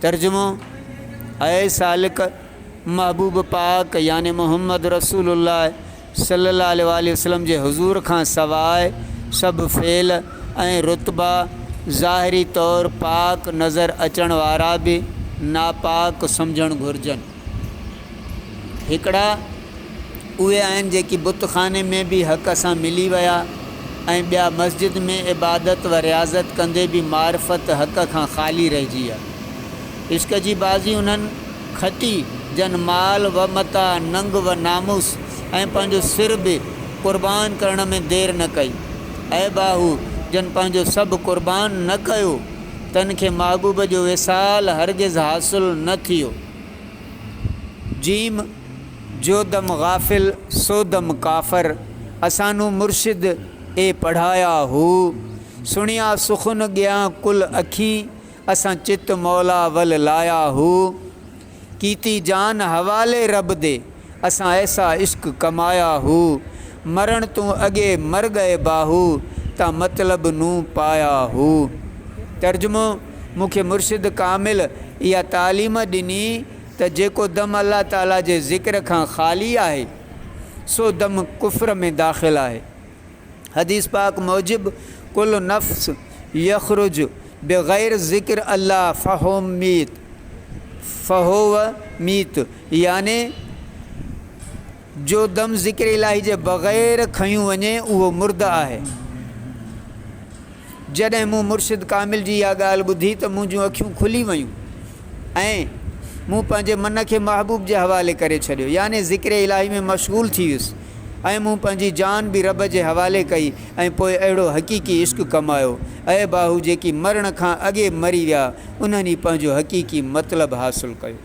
ترجمو، اي سالڪ! محبوب پاڪ يعني محمد رسول الله صلي الله عليه واٰله وسلم جي حضور کان سواء سڀ فعل ۽ رتبا ظاهري طور پاڪ نظر اچڻ وارا به ناپاڪ سمجهڻ گهرجن. هڪڙا اهي آهن جيڪي بت خاني ۾ به حق سان ملي ويا ۽ ٻيا مسجد ۾ عبادت و رياضت ڪندي به معرفت حق کان خالي رهجي ويا. عشق جي بازي انهن کٽي جن مال و متاع، ننگ و ناموس ۽ پنهنجو سر به قربان ڪرڻ ۾ دير نه ڪئي. عيب آ هو جن پنهنجو سڀ قربان نه ڪيو، تن کي محبوب جو وصال هرگز حاصل نه ٿيو. ج جودم غافل سودم ڪافر اسانون مرشد اي پڙهايا هو سڻيا سخن ڳيان ڪل اکين اسان چت مولا ول لايا هو ڪيتي جان حوالي رب دي اسان ايسا عشق ڪمايا هو، مرڻ تون اڳي مر ڳئي باهو، تان مطلب نون پايا هو. ترجمو، مون کي مرشد ڪامل اها تعليم ڏني ته جيڪو دم الله تعالي جي ذڪر کان خالي آهي، سو دم ڪفر ۾ داخل آهي. حديث پاڪ موجب ڪل نفس يخرج بغير ذڪر الله فهو ميت فهو ميت يعني جو دم ذڪر الاهي جي بغير کنيو وڃي اهو مرده آهي. جڏهن مون مرشد ڪامل جي اها ڳالهه ٻڌي ته منهنجون اکيون کلي ويون ۽ مون پنهنجي من کي محبوب جي حوالي ڪري ڇڏيو يعني ذڪر الاهي ۾ مشغول ٿي ويس ۽ مون پنهنجي جان به رب جي حوالي ڪئي ۽ پوء اهڙو حقيقي عشق ڪمايو اي باهو جيڪي مرڻ کان اڳي مري ويا انهن ئي پنهنجو حقيقي مطلب حاصل ڪيو.